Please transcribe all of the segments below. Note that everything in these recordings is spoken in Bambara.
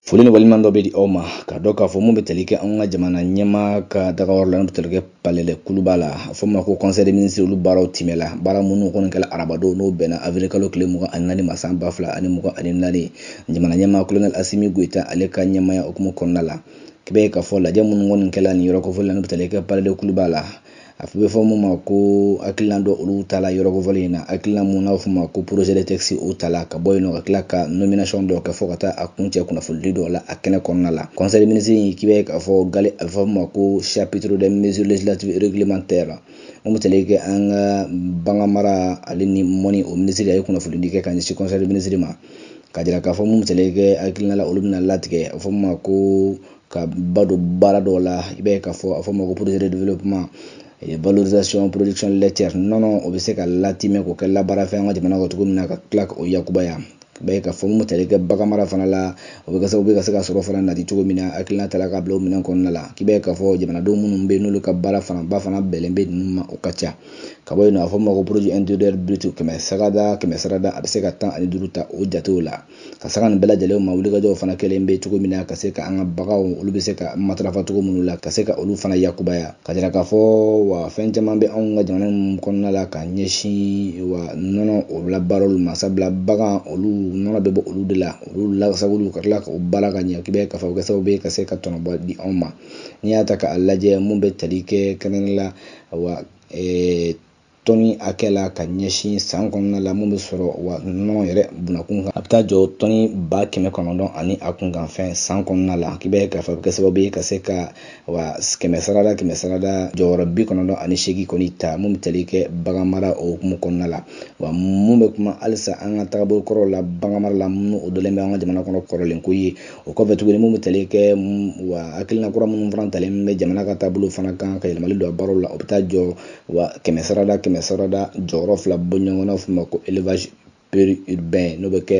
Foli ni waleɲumandɔn bɛ di aw ma ka dɔn k'a fɔ mun bɛ tali kɛ an ka jamana ɲɛmaa ka dagayɔrɔ la n'o bɛ tali kɛ Palais de Kuluba la a fɔ ma ko Conseil des ministres olu baaraw timɛla baara minnu kɔni kɛla arabadon n'o bɛnna avril kalo tile mugan ani naani ma san ba fila ani mugan ani naani jamana ɲɛmaa kolonɛli Asimi Goyita ale ka ɲɛmaaya hukumu kɔnɔna la k'i b'a ye k'a fɔ lajɛ minnu kɔni kɛla nin yɔrɔ kofɔli la n'o bɛ tali kɛ Palais de Kuluba la a bɛ fɔ mun ma ko hakilina dɔ olu tala yɔrɔ kofɔlen in na hakilina mun n'a fɔ ma ko projet de texte o tala ka bɔ yen nɔ ka tila ka nomination dɔ kɛ fɔ ka taa a kuncɛ kunnafonidi dɔw la a kɛnɛ kɔnɔna la Conseil des ministres in k'i b'a ye k'a fɔ gale a bɛ fɔ ma ko chapitre des mesures législatives et réglementaires mun bɛ tali kɛ an ka bagan mara ale ni mɔni o minisiri a ye kunnafonidi kɛ ka ɲɛsin Conseil des ministres ma ka jira k'a fɔ mun bɛ tali kɛ hakilina la olu bɛna latigɛ a bɛ fɔ ma ko ka ba don baara dɔw la i b'a ye k'a fɔ a fɔ ma ko projet de développement valorisation production laitière nɔnɔ o bɛ se ka latimɛ k'o kɛ labaara fɛn an ka jamana kɔnɔ cogo min na ka tila k'o yakubaya i b'a ye k'a fɔ mun bɛ tali kɛ bagan mara fana la o bɛ kɛ sababu ye ka se ka sɔrɔ fana nati cogo min na hakilina tala ka bila o minɛn kɔnɔna la k'i b'a ye k'a fɔ jamanadenw minnu bɛ yen n'olu ka baara fanaba fana bɛnlen bɛ ninnu ma o ka ca ka bɔ yen nɔ a fɔ ma ko produit intérieur brut kɛmɛ sarada kɛmɛ sarada a bɛ se ka tan ani duuru ta o jatew la ka sanga nin bɛɛ lajɛlen ma wulikajɔw fana kɛlen bɛ cogo min na ka se ka an ka baganw olu bɛ se ka matarafa cogo minnu la ka se ka olu fana yakubaya ka jira k'a fɔ wa fɛn caman bɛ anw ka jamana ninnu kɔnɔna la ka ɲɛsin wa nɔnɔ o labaarali ma sabula bagan olu nɔnɔ bɛ bɔ olu de la olu lasagoli ka tila k'o baara ka ɲɛ k'i b'a ye k'a fɔ o kɛ sababu ye ka se ka tɔnɔba di anw ma n'i y'a ta k'a lajɛ mun bɛ tali kɛ kɛnɛ la wa tɔni hakɛ la ka ɲɛsin san kɔnɔna la mun bɛ sɔrɔ wa nɔnɔ yɛrɛ bunakun kan a bɛ taa jɔ tɔni ba kɛmɛ kɔnɔntɔn ani a kunkanfɛn san kɔnɔna la k'i b'a ye k'a fɔ a bɛ kɛ sababu ye ka se ka wa kɛmɛ sarada kɛmɛ sarada jɔyɔrɔ bi kɔnɔntɔn ani seegin kɔni ta mun bɛ tali kɛ bagan mara o hukumu kɔnɔna la wa mun bɛ kuma halisa an ka tagabolo kɔrɔw la bagan mara la minnu o dɔlen bɛ an ka jamana kɔnɔ kɔrɔlen ko ye o kɔfɛ tuguni mun bɛ tali kɛ wa hakilina kura minnu fana talen bɛ jamana ka taabolo fana kan ka yɛlɛmali don a baaraw la o bɛ taa jɔ wa kɛmɛ sarada kɛmɛ sarada jɔyɔrɔ fila bɔ ɲɔgɔn na fɔ ma ko élevage péri-urbain n'o bɛ kɛ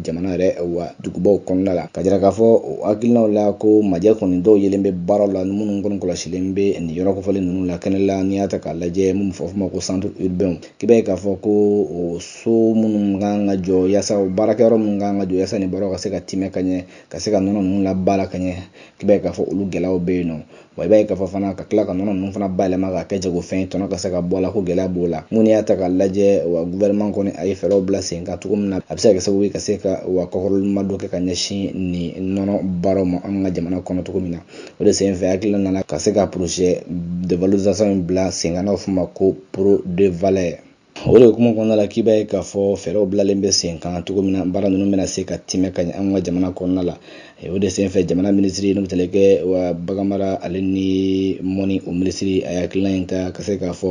jamana yɛrɛ wa dugubaw kɔnɔna la ka jira k'a fɔ o hakilinaw la ko majɛ kɔni dɔw yelen bɛ baaraw la minnu kɔni kɔlɔsilen bɛ nin yɔrɔ kofɔlen ninnu la kɛnɛ la n'i y'a ta k'a lajɛ mun bɛ fɔ ma ko centre urbain k'i b'a ye k'a fɔ ko o so minnu kan ka jɔ yaasa o baarakɛyɔrɔ minnu kan ka jɔ yaasa nin baaraw ka se ka timɛ ka ɲɛ ka se ka nɔnɔ ninnu labaara ka ɲɛ k'i b'a ye k'a fɔ olu gɛlɛyaw bɛ yen nɔ wa i b'a ye k'a fɔ fana ka tila ka nɔnɔ ninnu fana bayɛlɛma k'a kɛ jagofɛn ye tɔnɔ ka se ka bɔ a la ko gɛlɛya b'o la mun n'i y'a ta k'a lajɛ wa gouvernement kɔni a ye fɛɛrɛw bila sen kan cogo min na a bɛ se ka kɛ sababu ye ka se ka wa kɔkɔrɔmadon kɛ ka ɲɛsin nin nɔnɔ baaraw ma an ka jamana kɔnɔ cogo min na o de sen fɛ hakilina nana ka se ka projet de valorisation in bila sen kan n'a bɛ f'o ma ko PRODEVALAIT o de hukumu kɔnɔna la k'i b'a ye k'a fɔ fɛɛrɛw bilalen bɛ sen kan cogo min na baara ninnu bɛna se ka tɛmɛ ka ɲɛ an ka jamana kɔnɔna la o de senfɛ jamana minisiri n'o bɛ tali kɛ wa baganmara ale ni mɔni o minisiri a ye hakilina in ta ka se k'a fɔ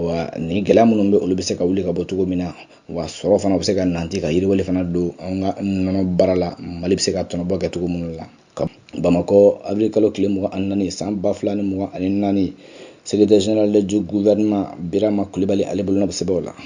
wa nin gɛlɛya minnu bɛ olu bɛ se ka wuli ka bɔ cogo min na wa sɔrɔ fana bɛ se ka nante ka yiriwali fana don an ka nɔnɔ baara la mali bɛ se ka tɔnɔbɔ kɛ cogo minnu la à bamakɔ avril kalo tile mugan ani naani san ba fila ni mugan ani naani secrétaire général du gouvernement birama kulibali ale bolonɔ bɛ sɛbɛnw la